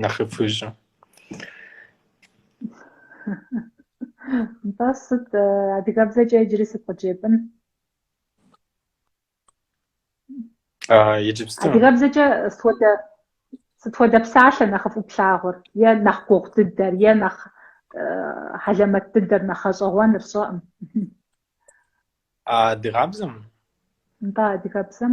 нэхъыфӏ ищӏыу. Нтӏэ сыт э, адыгэбзэкӏэ иджыри сыт къыджепӏын? А, иджыпсту. Адыгэбзэкӏэ сыт хуэдэ сыт хуэдэ псалъэ нэхъыфӏу плъагъур? Е нэхъ гугъу дыдэр, е нэхъ э, хьэлэмэт дыдэр, нэхъ гъэщӏэгъуэныр, сщӏэркъым. А адыгабзэм? Нтӏэ адыгэбзэм?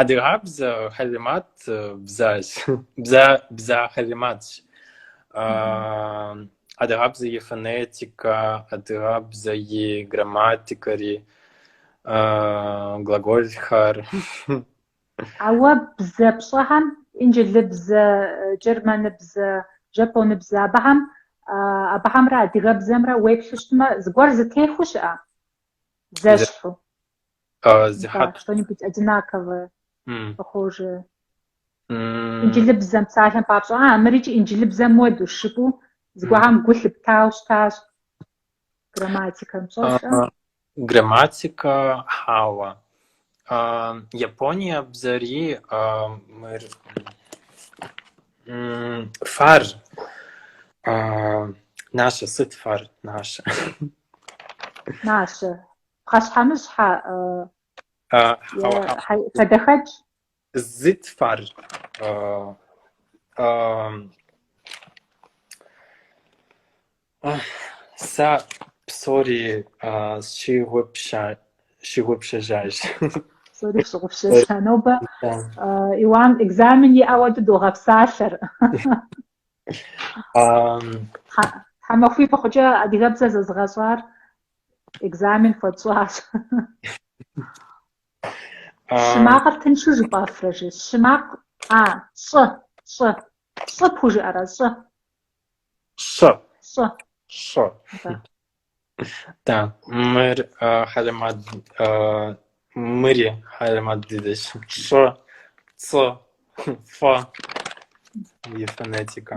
Адыгабзэ хьэлимат бзащ. Бза бза хьэлиматщ. Адыгабзэ и фонетикэ, адыгабзэ и грамматикэри, глаголхэр. Ауэ бзэ пщӏэхэм,, инджылыбзэ, германыбзэ, жапоныбзэ, абыхэм, абыхэмрэ адыгэбзэмрэ уеплъу щытмэ, зыгуэр зытехуэу щыӏэ? Зэщхьу. А, зи Да, хьэт. что-нибудь одинаковое М. похожее. М. Инджылыбзэм, псалъэм папщӏэ. А, мыр икӏи инджылыбзэм уэ дыщыкӏуэу зыгуэрхэм гу лъыптауэ щытащ. Грамматикэм пщӏэрэ. А, Грамматика, хьэуэ. Япония бзэри мыр фар нащэ сыт фар нащэ нащэ пхъэщхьэмыщхьэ хадэхэкӏ Зыт фар сэ псори сщыгъупщэжащ. Псори сщыгъупщэжа. Нобэ Иуан экзамен иӏэу догъэпсалъэр. Тхьэмахуибл хъукӏэ адыгэбзэ зэзыгъэщӏар экзамен хуэтщӏащ. Щӏы макъыр тыншу жыпӏэфрэ, щӏы? Щӏы макъ, а, щӏы, щӏы. Щӏы пхужыӏэрэ, щӏы? Щӏы. Щӏы. Щӏы. Да, мыр хьэлэмат, мыри хьэлэмат дыдэщ. Щӏы, цӏы, фӏы и фонетикэ.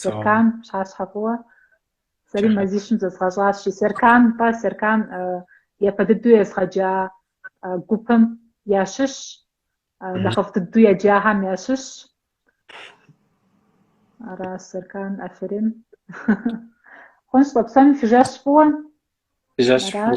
Серкан пщыхьэщхьэ фӏыуэ сэри мазищым зэзгъэщӏащи, Серкан пӏэ, Серкан япэ дыдэу езгъэджа гупым ящыщ, нэхъыфӏ дыдэу еджахэм ящыщ. Аращ Серкан, аферин. Хъунщ, тӏэ псоми фи жэщ фӏыуэ. Фи жэщ фӏыуэ.